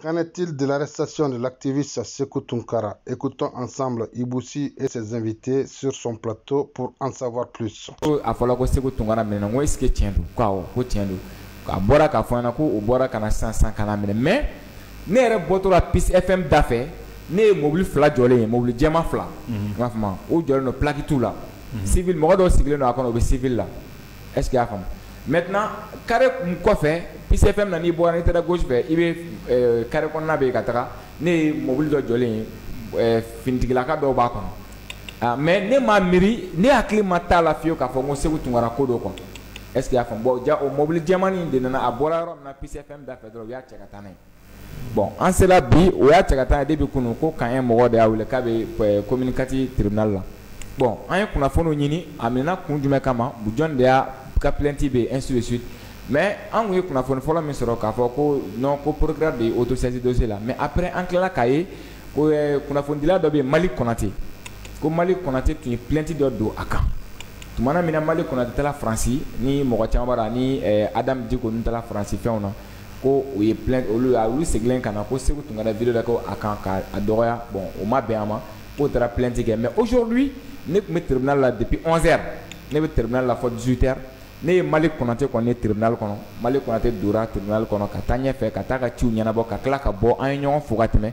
Qu'en est-il de l'arrestation de l'activiste Sekou Tunkara Écoutons ensemble Ibusi et ses invités sur son plateau pour en savoir plus. A fɔla ko Sekou Tunkara minɛna ko est-ce que tiɲɛ don ko awɔ ko tiɲɛ don a bɔra k'a fɔ an ɲɛna ko u bɔra ka na sisan sisan ka n'a minɛ mais ne yɛrɛ bɔtɔ la Peace FM da fɛ ne ye mobili fila jɔlen ye mobili jɛman fila n b'a fɔ ma o jɔlen don plaki t'u la civil mɔgɔ dɔw sigilen don a kɔnɔ u bɛ civil la est-ce que y'a faamu maintenant carré kun kɔfɛ Peace FM na n'i bɔra n'i taara gauche fɛ i bɛ euh, carré kɔnɔna bɛ yen ka taga ne ye mobili dɔ jɔlen ye euh, finitigilaka dɔw b'a kɔnɔ ah mais ne m'a miiri ne hakili ma t'a la fiyewu k'a fɔ ko Sekou Tunkara ko don quoi est-ce que y'a faamu bon jaa o mobili jɛmani in de nana a bɔra yɔrɔ min na Peace FM da fɛ dɔrɔn u y'a cɛ ka taa n'a ye. bon an sera bi u y'a cɛ ka taa depuis kunun ko k'an ye mɔgɔ de y'a wele k'a bɛ commune quatre tribunal la bon an ye kunnafoniw ɲini a minɛna kun jumɛn kama jɔn de y'a ka plainte bɛ yen ainsi de suite mais an tun ye kunnafoni fɔlɔ min sɔrɔ k'a fɔ ko non ko procureur de ye autosaisi dossier la mais après an tilala k'a ye ko kunnafonidila dɔ bɛ yen malik konate ko malik konate tun ye plainte dɔ don a kan tumana min na malik konate taara faransi ni mɔgɔ caman b'a la ni adam diko ninnu taara faransi fɛnw na ko u ye plainte olu a olu segilen ka na ko sekou tunkara video dɔ kɛ a kan ka a dɔgɔya bon o ma bɛn a ma k'o taara plainte kɛ mais aujourd'hui ne tun bɛ tribunal la depuis 11 heures ne bɛ tribunal la fɔ 18 heures ne ye malik konate kɔni ye tribunal kɔnɔ malik konate dora tribunal kɔnɔ ka taa ɲɛfɛ ka t'a ka ciw ɲɛnabɔ ka tila ka bɔ an ye ɲɔgɔn fo ka tɛmɛ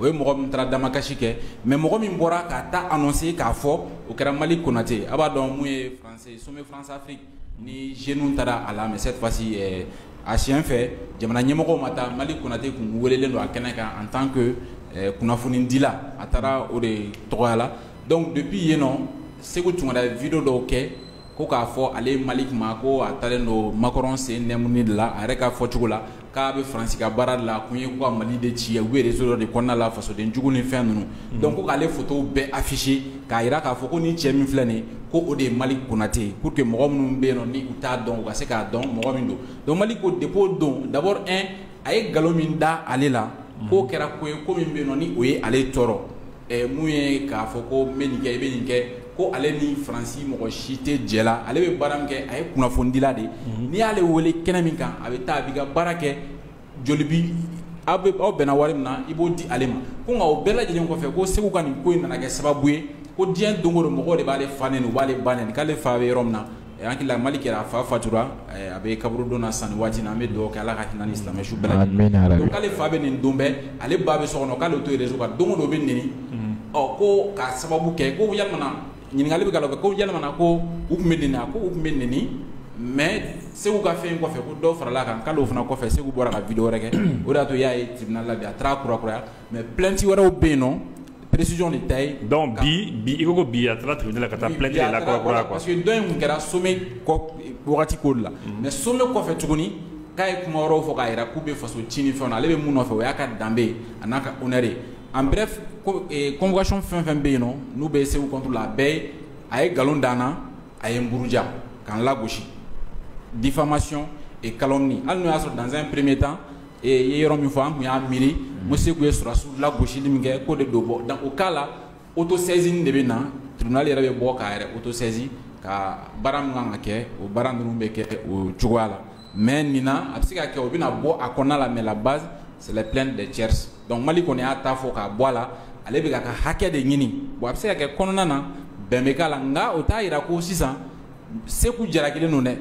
o ye mɔgɔ min taara damakasi kɛ mais mɔgɔ min bɔra ka taa annoncer k'a fɔ o kɛra malik konate a b'a dɔn mun ye sommet France-Afrique ni jeunes taara a la mais cette fois-ci a siyɛn fɛ jamana ɲɛmɔgɔ ma taa malik konate tun welelen don a kɛnɛ kan en tant que kunnafonidila a taara o de tɔgɔya la donc depuis yen nɔ sekou tunkara vidéo dɔw kɛ ko k'a fɔ ale malik ma ko a taalen don macron sen nɛmuni de la a yɛrɛ ka fɔcogo la k'a bɛ faransi ka baara de la kun ye ko ka mali de ci u bɛ réseau dɔ de kɔnɔna la fasoden jugu ni fɛn ninnu mm. donc ko k'ale fotow bɛɛ afficher k'a jira k'a fɔ ko nin cɛ min filɛ nin ko o de ye malik konate pour que mɔgɔ minnu bɛ yen nɔ ni u t'a dɔn u ka se k'a dɔn mɔgɔ min don donc malik ko depo don d'abord a ye nkalon min da ale la k'o kɛra ko ye ko min bɛ yen nɔ ni o ye ale tɔɔrɔ ɛɛ mun ye k'a fɔ ko n bɛ nin kɛ i bɛ nin kɛ ko ale ni faransi mɔgɔ si tɛ jɛ la ale bɛ baara min kɛ a ye kunnafonidila de ye n'i y'ale wele kɛnɛ min kan a bɛ taa a b'i ka baara kɛ joli bi aw bɛ aw bɛnna wari min na i b'o di ale ma ko nka o bɛɛ lajɛlen kɔfɛ ko sekou ka nin ko in nana kɛ sababu ye ko diɲɛ don o don mɔgɔw de b'ale fa nɛni u b'ale ba nɛni k'ale fa bɛ yɔrɔ min na eh, an hakili la Malick yɛrɛ a fa fatura eh, a bɛ kaburudo la san waati na an bɛ duba kɛ ala ka hinɛ ni silamɛ su bɛɛ k'ale fa bɛ neni don bɛɛ ale ba bɛ so kɔnɔ k'ale to ye réseau kan don o don o bɛ neni mm. ɔ ko ka sababu kɛ ko yamana ɲininkali bɛ kɛ ko yamana ko u tun bɛ neni a ko u tun bɛ neni mais Seku ka fɛn kɔfɛ ko dɔw farala kan k'ale fana kɔfɛ Seku bɔra ka video wɛrɛ kɛ o de y'a to y'a ye tribunal la bi a taara kurakuraya mais plainte wɛrɛw bɛ yen nɔ presi de ta ye dɔn bi bi i ko bi a taara tile la ka taa plainte kura parce que dɔ tun kɛra sommet wagati ko la mais sommet kɔfɛ tuguni k'a ye kuma yɔrɔw fɔ k'a jira k'u bɛ faso tiɲɛni fɛ ale bɛ mun nɔfɛ o y'a ka danbe ye a n'a ka honneur ye en bref convocation fɛn fɛn bɛ yen nɔ n'u bɛ Seku contre la a bɛɛ ye a ye nkalon da n na a ye n buruja ka n lagosi diffamation et calomnie hali n'o y'a sɔrɔ dans un premier temps e ye yɔrɔ min fɔ an tun y'a miiri ko Seku ye sɔrɔdasiw lagosili min kɛ k'o de don bon dans o cas la autosaisine de bɛ na tribunal yɛrɛ bɛ bɔ k'a yɛrɛ autosaisi ka baara min kan ka kɛ o baara ninnu bɛ kɛ o cogoya la mais nin na a bɛ se ka kɛ o bɛna bɔ a kɔnɔna la mais la base c'est les plaintes des tiers donc Malick kɔni y'a ta fɔ k'a bɔ a la ale bɛ k'a ka hakɛ de ɲini bon a bɛ se ka kɛ kɔnɔna na bɛn bɛ k'a la nka o t'a jira ko sisan Seku jalakilen don dɛ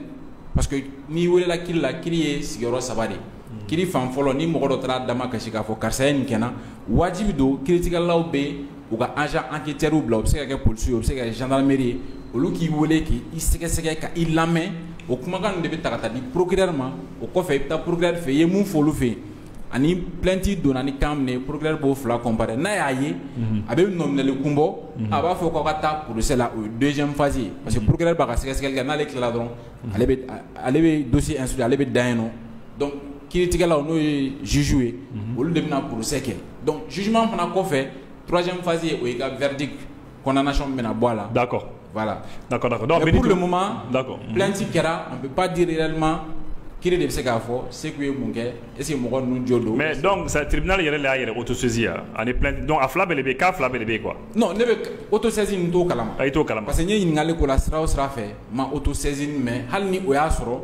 parce que n'i welela kiri la kiri ye sigiyɔrɔ saba de mm. kiri fan fɔlɔ ni mɔgɔ dɔ taara da makasi k'a fɔ karisa ye nin kɛ n na wajibi don kiritigɛlaw bɛ u ka agent enquêteurs bila u bɛ se ka kɛ polisiw ye u bɛ se ka kɛ gendarmerie ye olu k'i wele k'i sɛgɛsɛgɛ ka i lamɛn o kumakan ninnu de bɛ ta ka taa di procureur ma o kɔfɛ i bɛ taa procureur fɛ yen i ye mun fɔ olu fɛ yen ani plainte donna ni kan min ye procureur b'o fila comparer n'a y'a ye a bɛ nɔminɛli kun bɔ a b'a fɔ k'aw ka taa procès la o ye deuxième phase ye parce que procureur b'a ka sɛgɛsɛgɛli kɛ n'ale tilala dɔrɔn ale bɛ ale bɛ dossier instruit ale bɛ dan yen nɔ donc kiiritigɛlaw n'o ye juges ye olu de bɛna procès kɛ donc jugement fana kɔfɛ troisième phase ye o y'i ka verdict kɔnɔnasɔn bɛna bɔ a la dakɔ lati kɛra an bɛ ba di yɛlɛma ki de bɛ se k'a fɔ segu ye mun kɛ ese mɔgɔ ninnu jɔ don mɛ dɔn satiina yɛrɛ y'a yɛrɛ o to sinsi ani dɔn a fila bɛ bɛ k'a fila bɛ bɛ yen kuwa ne bɛ o to sinsin to kala a ye to kala parce que ɲɛ ɲininkakali ko la sira sira fɛ ma o to sinsin mɛn hali ni o y'a sɔrɔ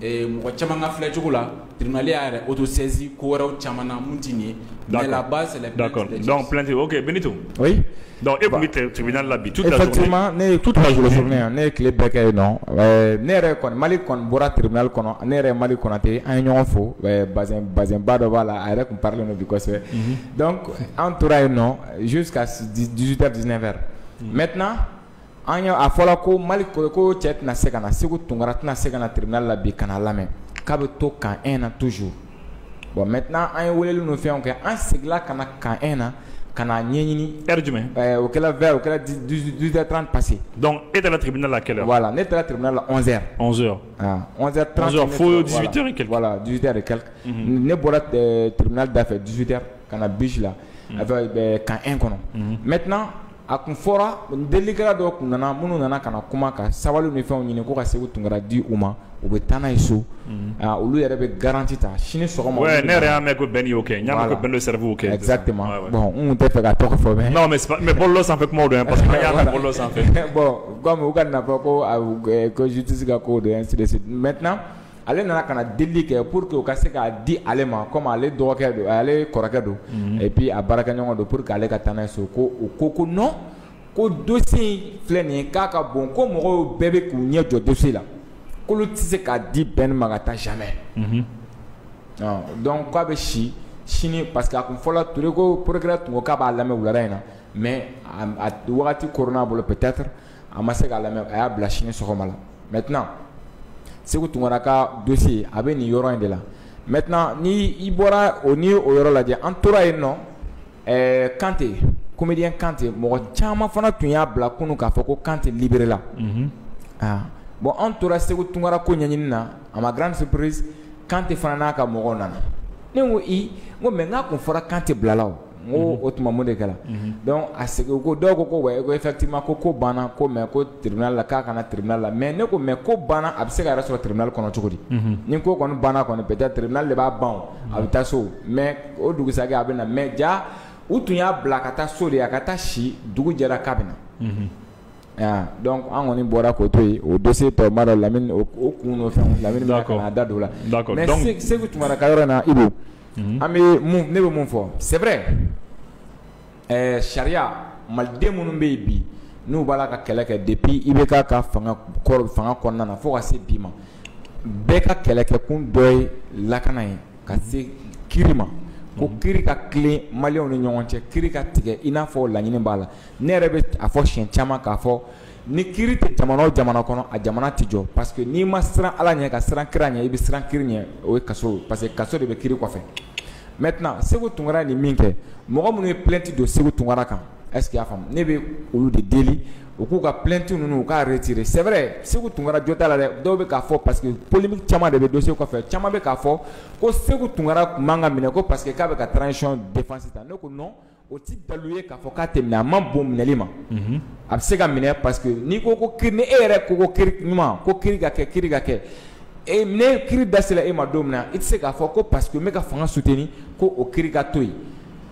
mɔgɔ caman ka filɛcogo la Tribunal y'a yɛrɛ autosaisi ko wɛrɛw caman na min tɛ nin ye, d'accord, mais la base c'est les plaintes, d'accord, donc plainte ok Benito, oui, donc e tun bɛ tribunal la bi toute la journée, effectivement ne ye toute la journée ne ye tile bɛɛ kɛ yen nɔ, ɛɛ ne yɛrɛ kɔni Malick kɔni bɔra tribunal kɔnɔ ne yɛrɛ Malick Konate an ye ɲɔgɔn fo bazɛn bazɛnba dɔ b'a la a yɛrɛ tun parilen don bi kosɛbɛ, unhun, donc an tora yen nɔ jusqu'à 18 heures 19 heures, unhun, maintenant An y' a fɔra ko mali ko ko cɛ tɛna se ka na Seku Tunkara tɛna se ka na tribunal la bi ka na lamɛn k'a bɛ to camp un na toujours bon maintenant an ye wele ninnu fɛn kɛ an seginna ka na camp un na ka na ɲɛɲini heure jumɛn o o kɛra trente passé donc e taara tribunal la kɛlɛ voilà ne taara tribunal la ne bɔra tribunal dafɛ dix-huit heures ka na BIJ la a camp un kɔnɔ mɛt a tun fɔra delikɛla dɔw tun nana minnu nana ka na kuma ka sabali ni fɛnw ɲini ko ka Seku Tunkara di u ma u bɛ taa n'a ye so olu yɛrɛ bɛ garanti ta sini sɔgɔma ne yɛrɛ y'a mɛn ko Ben y'o kɛ n'a ko Ben Chérif kɛ exactement n tɛ fɛ ka tɔgɔ fɔ mais mais bolo sanfɛ kuma don parce que y'a mɛn bolo sanfɛ bɔn u ka nafa ko ko justice ka ko don sirisi maintenant ale nana ka na deli kɛ pour que u ka se k'a di ale ma komi ale dɔgɔkɛ don ale kɔrɔkɛ don mhm. et puis a baarakɛɲɔgɔn don pour que ale ka taa n'a ye so ko u ko ko non ko dossier in filɛ nin ye k'a ka bon ko mɔgɔw bɛɛ bɛ k'u ɲɛ jɔ dossier la k'olu tɛ se k'a di Ben ma ka taa jamais mhm. donc k'a bɛ si sini parce que a kun fɔra Ture ko procureur tun ko k'a b'a lamɛn wulada in na mais a wagati koronna a bolo peut-être a ma se k'a lamɛn a y'a bila sini sɔgɔma la maintenant Seku Tunkara ka dossier a bɛ nin yɔrɔ in de la maintenant ni i bɔra o ni o yɔrɔ lajɛ an tora yen nɔ ɛɛ kante comédien kante mɔgɔ caman fana tun y'a bila kunu k'a fɔ ko kante libéré la mhm. ah. bon an tora Seku Tunkara ko ɲɛɲini na à ma grande surprise kante fana n'a ka mɔgɔw nana ne ko i n ko mais n k'a kun fɔra kante bilala o N ko o tuma mun de kɛra donc a sigi ko dɔw ko ko wa e ko effectivement ko ko banna ko mais ko tribunal la k'a ka na tribunal la mais ne ko mais ko banna a bɛ se k'a yɛrɛ sɔrɔ tribunal kɔnɔ cogo di ni ko kɔni banna kɔni bɛ taa tribunal de b'a ban a bɛ taa so mais o dugusa a bɛ na mais ja u tun y'a bila ka taa so de ye a ka taa si dugu jɛra k'a bɛ na donc an kɔni bɔra k'o to yen o don se tɔ la lamini fɛn lamini da don la Seku Tunkara ka yɔrɔ na i Mhm. An bɛ mun ne bɛ mun fɔ c'est vrai ɛɛ sariya maliden minnu bɛ yen bi n'u b'a la ka kɛlɛ kɛ depuis IBK ka fanga kɔr fanga kɔnɔna na fo ka se bi ma bɛɛ ka kɛlɛkɛkun dɔ ye lakana ye ka se kiri ma ko mhm. kiri ka tilen maliyɛnw ni ɲɔgɔn cɛ kiri ka tigɛ i n'a fɔ laɲini b'a la ne yɛrɛ bɛ a fɔ siɲɛ caman k'a fɔ Ni kiri tɛ jamana o jamana kɔnɔ a jamana tɛ jɔ parce que n'i ma siran Ala ɲɛ ka siran kira ɲɛ i bɛ siran kiri ɲɛ o ye kaso ye parce que kaso de bɛ kiri kɔfɛ maintenant Seku Tunkara ye nin min kɛ mɔgɔ minnu ye plainte don Seku Tunkara kan est ce que i y'a faamu ne bɛ olu de deli u k'u ka plainte ninnu u k'a retirer c'est vrai Seku Tunkara jo t'a la dɛ dɔw bɛ k'a fɔ parce que polémique caman de bɛ dossier kɔfɛ caman bɛ k'a fɔ ko Seku Tunkara tun man ka minɛ ko parce que k'a bɛ ka transition défense ta ne ko non o tɛ dalu ye k'a fɔ k'a tɛ minɛ a man bon minɛli ma a bɛ se ka minɛ parce que n'i ko ko ni e yɛrɛ ko ko kiri ɲuman ko kiri ka kɛ kiri ka kɛ e ne kiri dasila e ma don min na i tɛ se k'a fɔ ko parce que n bɛ ka fanga suteni ko o kiri ka to yen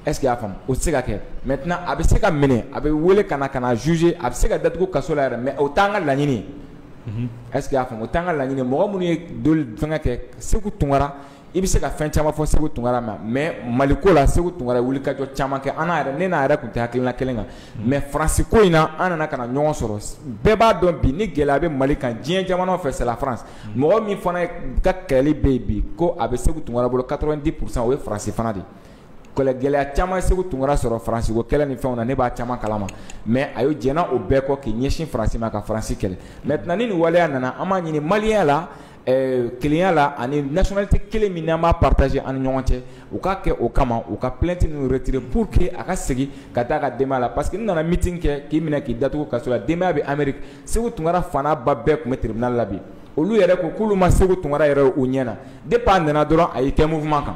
est ce que y'a faamu o tɛ se ka kɛ maintenant a bɛ se ka minɛ a bɛ wele ka na ka na juger a bɛ se ka datugu kaso la yɛrɛ mais o t'an ka laɲini ye est ce que y'a faamu o t'an ka laɲini ye mɔgɔ minnu ye doli fɛngɛ kɛ Seku Tunkara i bɛ se ka fɛn caman fɔ Seku Tunkara ma mɛ mali ko la Seku Tunkara wulikajɔ caman kɛ an yɛrɛ ne n'a yɛrɛ tun tɛ hakilila kelen kan mɛ faransi ko in na an nana ka na ɲɔgɔn sɔrɔ bɛɛ b'a dɔn bi ni gɛlɛya a bɛ mali kan diɲɛ jamana fɛ c'est la France mɔgɔ min fana ka kɛlɛli bɛ yen bi ko a bɛ Seku Tunkara bolo ka di kurusan o ye faransi fana de kɛlɛ gɛlɛya caman Seku Tunkara sɔrɔ faransiko kɛlɛ ni fɛnw na ne b'a caman kalama mɛ a ye jɛn o bɛɛ kɔ k'i ɲɛsin faransi ma ka faransi kɛlɛ maintenant ni nin waleya nana an b'a ɲini maliya la kelenya la ani nationalité kelen min an b'a partager an ni ɲɔgɔn cɛ u k'a kɛ o kama u ka plainte nin retirer pour que a ka segin ka taa a ka denbaya la parce que n'i nana meeting kɛ k'i minɛ k'i datugu kaso la denbaya bɛ Ameriki Seku Tunkara fa n'a ba bɛɛ tun bɛ tribunal la olu yɛrɛ ko k'olu ma Seku Tunkara yɛrɛ y'u ɲɛ na depuis a nana dɔrɔn a y'i kɛ mouvement kan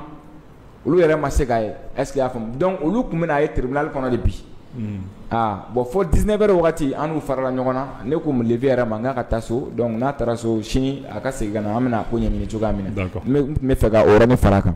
olu yɛrɛ ma se k'a ye est ce que y'a faamu donc olu tun bɛna a ye tribunal kɔnɔ de bi hmm. aa bon fo dix-neuf heures wagati an n'u farala ɲɔgɔn na ne ko mon neveu yɛrɛ ma n k'a ka taa so donc n'a taara so sini a ka segin ka na an bɛna ko ɲɛɲini cogoya min na n tun b'a fɛ ka o yɔrɔnin fara a kan